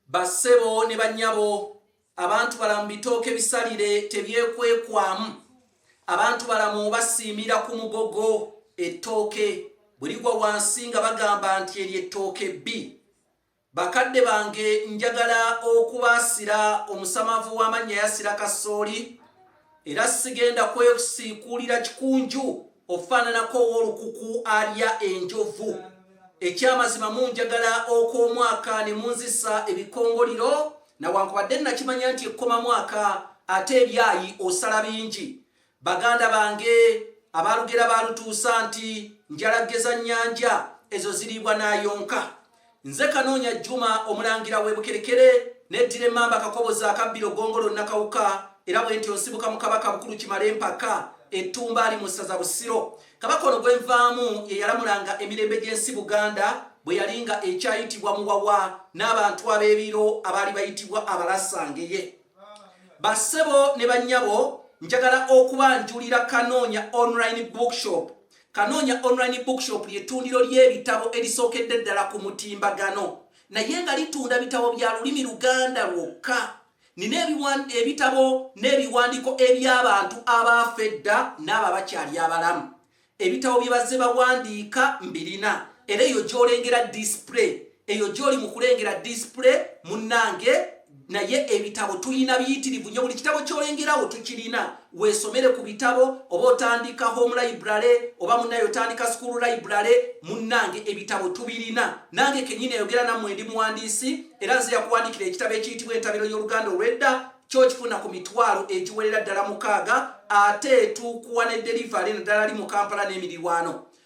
Ba ssebo ne ba nnyabo, abantu balamu bitooke bisalire tebyekwekwamu. Abantu balamu basiimira ku mugogo, ettooke, bwe ligwa wansi nga bagamba nti eryo ettooke bbi. Bakadde bange njagala okubaasira omusamavu w'amannya yasira kasooli. Era sigenda kwesiikuulira kikunju ofaananako ow'olukuku alya enjovu. Ekyamazima munjagala okw'omwaka ne munzisa ebikongoliro, nawankubadde nnakimanya nti ekkoma mwaka ate ebyayi osala bingi. Baganda bange abaalugera baalutuusa nti njalaggeza nnyanja, ezo ziriibwa n'ayonka. Nze Kanoonya Juma omulangira w'e Bukerekere n'eddira emmamba Kakoboza akabbiro Gongolo Nakawuka era bwentyo nsibuka mu Kabaka Bukulu Kimale Mpaka ettumba ali mu ssaza Busiro. Kabaka ono gwe nvaamu ye yalamulanga emirembe gy'ensi Buganda bwe yali nga ekyayitibwa Muwawa n'abantu ab'ebiro abaali bayitibwa Abalasangeye. Bassebo ne bannyabo njagala okubanjulira Kanoonya Online Bookshop Kanoonya Online Bookshop lye ttundiro ly'ebitabo erisookedde ddala ku mutimbagano naye nga litunda bitabo bya lulimi Luganda lwokka. Nina ebitabo n'ebiwandiiko eby'abantu abaafa edda n'abo abakyali abalamu. Ebitabo bye bazze bawandiika mbirina era eyo gy'olengera display eyo gyoli mu kulengera disipule munnange naye ebitabo tulina biyitirivu nyo buli kitabo kyolengerawo tukirina weesomere ku bitabo oba otandika home library oba munaye otandika school library munnange ebitabo tubirina nange kenyini ayogera nammwe ndi muwandiisi era nze yakuwandikira ekitabo ekiyitibwa entabiro y'oluganda olwedda kyo kifuna ku mitwalo egiwerera ddala mukaaga ate tukuwa ne delivery naddala li mu kampala n'emirirwano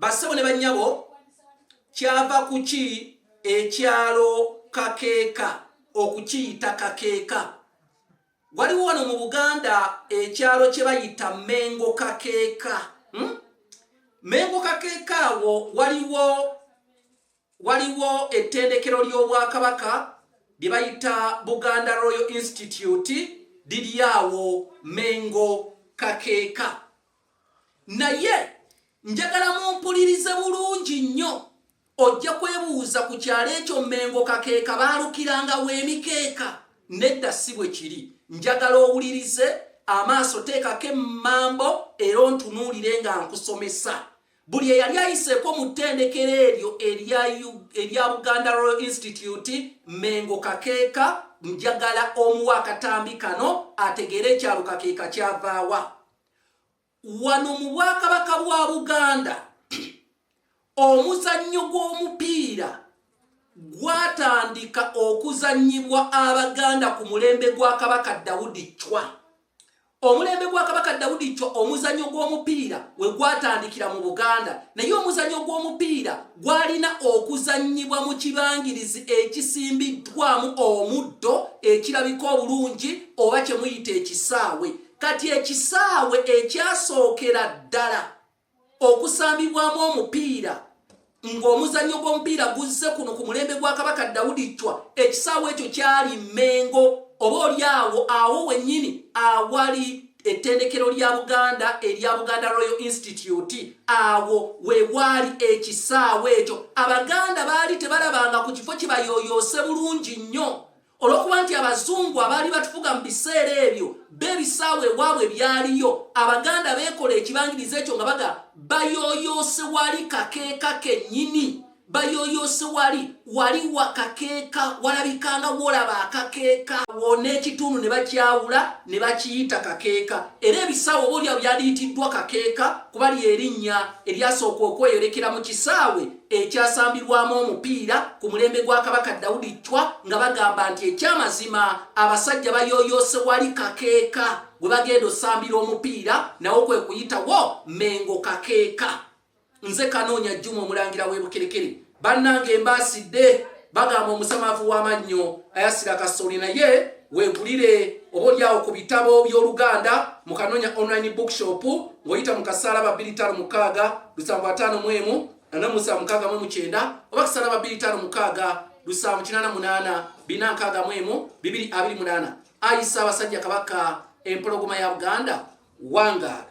bassebo ne bannyabo kyava kuki ekyalo kakeeka okukiyita kakeeka waliwo wano mu buganda ekyalo kye bayita mengo kakeeka hmm? mengo kakeeka awo waliwo Waliwo ettendekero ly'Obwakabaka lye bayita Buganda Royal Institute liri awo Mengo Kakeeka. Naye njagala mumpulirize bulungi nnyo ojja kwebuuza ku kyalo ekyo Mengo Kakeeka baalukiranga w'emikeeka nedda si bwe kiri. Njagala owulirize amaaso teekako emmambo era ontunuulire nga nkusomesa. Buli eyali ayiseeko mu ttendekero eryo erya Buganda Royal Institute Mengo Kakeeka njagala omuwa akatambi kano ategeere ekyalo Kakeeka kyavaawa. Wano mu Bwakabaka bwa Buganda omuzannyo gw'omupiira gwatandika okuzannyibwa Abaganda ku mulembe gwa Kabaka Daudi Chwa. Omulembe gwa Kabaka Daudi Chwa omuzanyo gw'omupiira we gwatandikira mu Buganda naye omuzanyo gw'omupiira gwalina okuzannyibwa mu kibangirizi ekisimbiddwamu omuddo ekirabika obulungi oba kye muyita ekisaawe. Kati ekisaawe ekyasookera ddala. okusambibwamu omupiira ng'omuzannyo gw'omupiira guzze kuno ku mulembe gwa kabaka dawudi ccwa ekisaawe ekyo kyali mmengo oba oli awo awo wennyini awali ettendekero lya buganda erya buganda royal institute awo we waali ekisaawe ekyo abaganda baali tebalabanga ku kifo kibayooyoose bulungi nnyo olw'okuba nti abazungu abaali batufuga mu biseera ebyo b'ebisaawa ewaabwe byaliyo abaganda beekola ekibangiriza ekyo nga baga bayoyoose wali kakeeka kennyini bayoyoose wali wali wakakeeka walabikanga wolaba akakeeka wona ekitundu ne bakyawula ne bakiyita kakeeka era ebisaawa oba olyawo byaliyitiddwa kakeeka kuba lyerinnya eryasooka okweyolekera mu kisaawe ekyasambirwamu omupiira ku mulembe gwa kabaka dawudi cwa nga bagamba nti ekyamazima abasajja bayoyoose wali kakeeka gwe bagenda osambira omupiira nawo kwe kuyitawo mengo kakeeka nze kanoonya jjuma omulangira w'ebukerekere bannanga embaasidde bagamba omusamavu w'amannyo ayasira kasoli naye wegulire oba olyawo ku bitabo by'oluganda mu kanonya online bookshop ng'oyita mu kasaala babiri tano mukaaga lusanvu ataano mu emu nana musanvu mukaaga mu mukyenda oba kasaala babiri tano mukaaga lusanvu kinana munaana bina nkaaga mu emu bibiri abiri munaana ayisa abasajja kabaka empologoma ya buganda wangaala